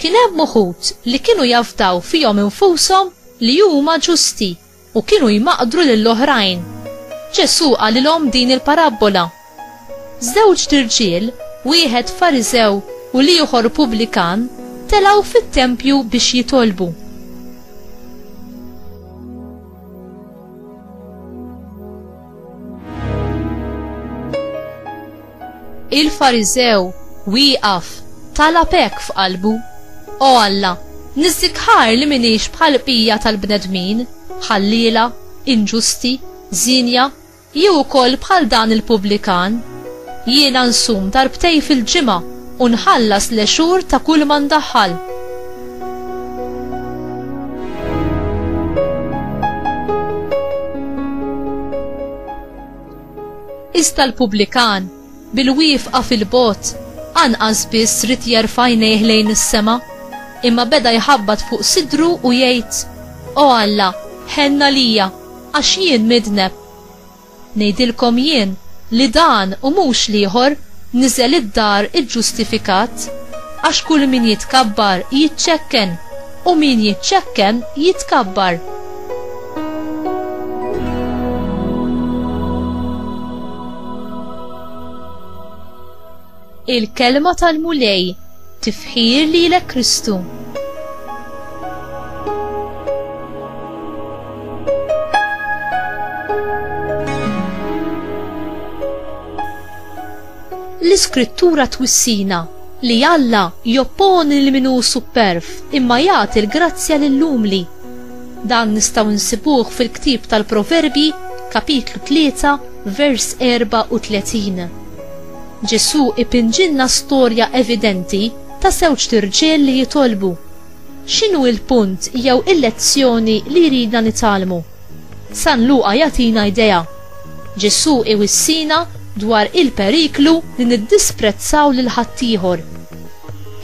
Kien hemm uħud li kienu jafdaw fihom infushom li huma ġusti u kienu jmaqdru lil oħrajn. Ġesù qalilhom din il-parabbola, Żewġt irġiel, wieħed Fariżew u l-ieħor pubblikan, telgħu fit-tempju biex jitolbu. Il-Fariżew wieqaf talab hekk f'qalbu, O Alla, niżżikħar li m'iniex bħal bqija tal-bnedmin, ħalliela, inġusti, żienja, jew ukoll bħal dan il-pubblikan. Jiena nsum darbtejn fil-ġimgħa U nħallas l-għexur ta' kulma ndaħħal. Iżda l-pubblikan, bil-wifqa fil-bogħod, anqas biss rid jerfa' għajnejh lejn is-sema, imma beda jħabbat fuq sidru u jgħid, O Alla, ħenna lija, għax jien midneb. Ngħidilkom jien li dan u mhux l-ieħor niżel id-dar iġġustifikat, għax kull min jitkabbar jiċċekken, u min jiċċekken jitkabbar. Il-kelma tal-Mulej tifħir lilek Kristu. L-iskrittura twissina li Alla jopponi li minu superf imma jagħti l-grazzja lill-umli. Dan nistgħu nsibuh fil-ktib tal-Proverbi, kapitlu 3, vers 34. Ġesù ipinġilna storja evidenti ta' żewġt irġiel li jitolbu. X'inhu il-punt jew il-lezzjoni li jridna nitgħallmu? San Luqa jagħtina idea. Ġesù iwissina dwar il-periklu li niddisprezzaw lil ħaddieħor.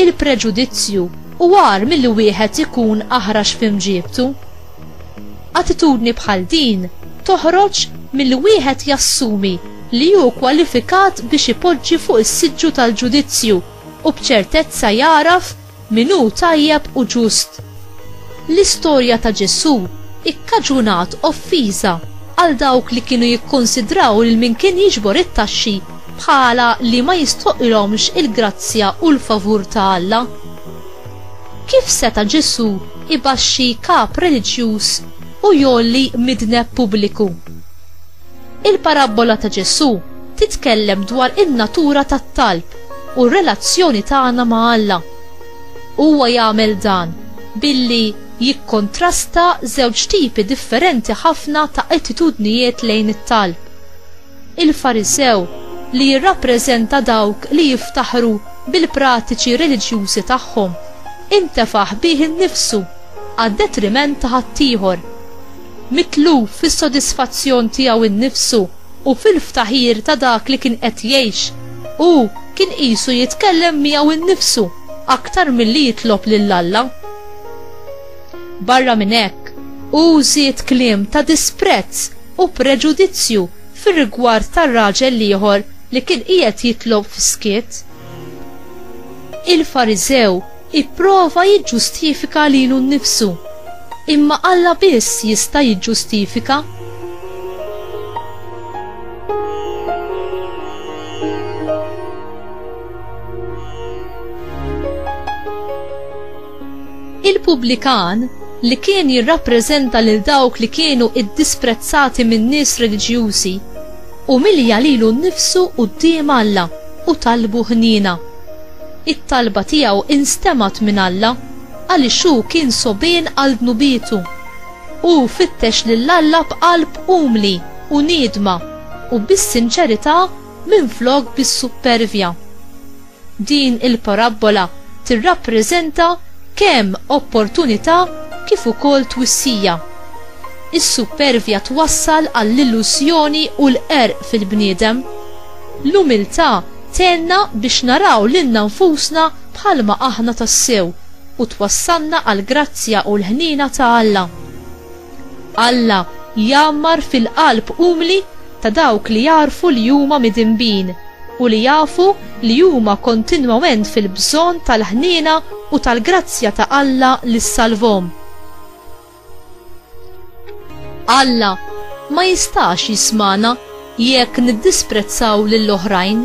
Il-preġudizzju hu agħar milli wieħed ikun aħrax f'imġiebtu. Attitudni bħal din toħroġ milli wieħed jassumi li hu kwalifikat biex ipoġġi fuq is-siġġu tal-ġudizzju u b'ċertezza jagħraf min hu tajjeb u ġust. L-istorja ta' Ġesù ikkaġunat offiża għal dawk li kienu jikkunsidraw lil min kien jiġbor it-taxxi bħala li ma jistoqilhomx il-grazzja u l-favur ta' Alla. Kif seta' Ġesù jbaxxi kap reliġjuż u jgħolli midneb pubbliku? Il-parabbola ta' Ġesù titkellem dwar in-natura tat-talb u r-relazzjoni tagħna ma' Alla. Huwa jagħmel dan billi jikkontrasta żewġ tipi differenti ħafna ta' attitudnijiet lejn it-talb. Il-Farisew, li jirrappreżenta dawk li jiftaħru bil-pratiċi reliġjużi tagħhom, intefaħ bih innifsu għad-detriment ta' ħaddieħor. Mitluf fis-sodisfazzjon tiegħu nnifsu u fil-ftaħir ta' dak li kien qed jgħix, hu kien qisu jitkellem miegħu nnifsu aktar milli jitlob lil Alla. Barra minn hekk, hu żied kliem ta' disprezz u preġudizzju fir-rigward ta' raġel l-ieħor li kien qiegħed jitlob fis-skiet. Il-Fariżew ipprova jiġġustifika lilu nnifsu, imma Alla biss jista' jiġġustifika. Il-pubblikan, li kien jirrappreżenta lil dawk li kienu ddisprezzati min-nies reliġjużi, umilja lilu nnifsu quddiem Alla u talbu ħniena. It-talba tiegħu instemgħet minn Alla għaliex hu kien sogħbien għal dnubietu. Hu fittex lil Alla b'qalb umli u niedma u bis-sinċerità minflok bis-suppervja. Din il-parabbola tirrappreżenta kemm opportunità kif ukoll twissija. Is-suppervja twassal għall-illużjoni u l-qerq fil-bniedem. L-umiltà tgħinna biex naraw lilna nfusna bħalma aħna tassew u twassalna għall-grazzja u l-ħniena ta' Alla. Alla jgħammar fil-qalb umli ta' dawk li jagħrfu li huma midinbin u li jafu li huma kontinwament fil-bżonn tal-ħniena u tal-grazzja ta' Alla li ssalvhom. Alla ma jistax jismagħna jekk niddisprezzaw lill-oħrajn.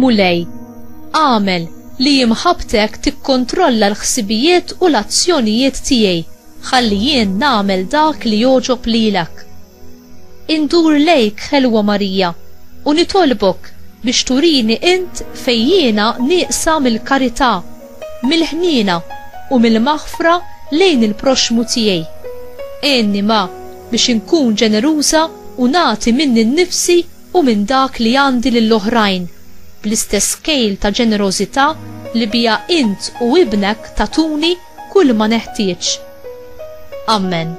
Mulej, agħmel li imħabbtek tikkontrolla l-ħsibijiet u l-azzjonijiet tiegħi ħalli jien nagħmel dak li jogħġob lilek. Indur lejk, Ħelwa Marija, u nitolbok biex turini int fejn jiena nieqsa mill-karità, mill-ħniena u mill-maħfra lejn il-proxxmu tiegħi. Għinni ma biex inkun ġeneruża u nagħti minni nnifsi u minn dak li għandi lill-oħrajn, bl-istess kejl ta' ġenerożità li biha int u ibnek tagħtuni kulma neħtieġ. Ammen.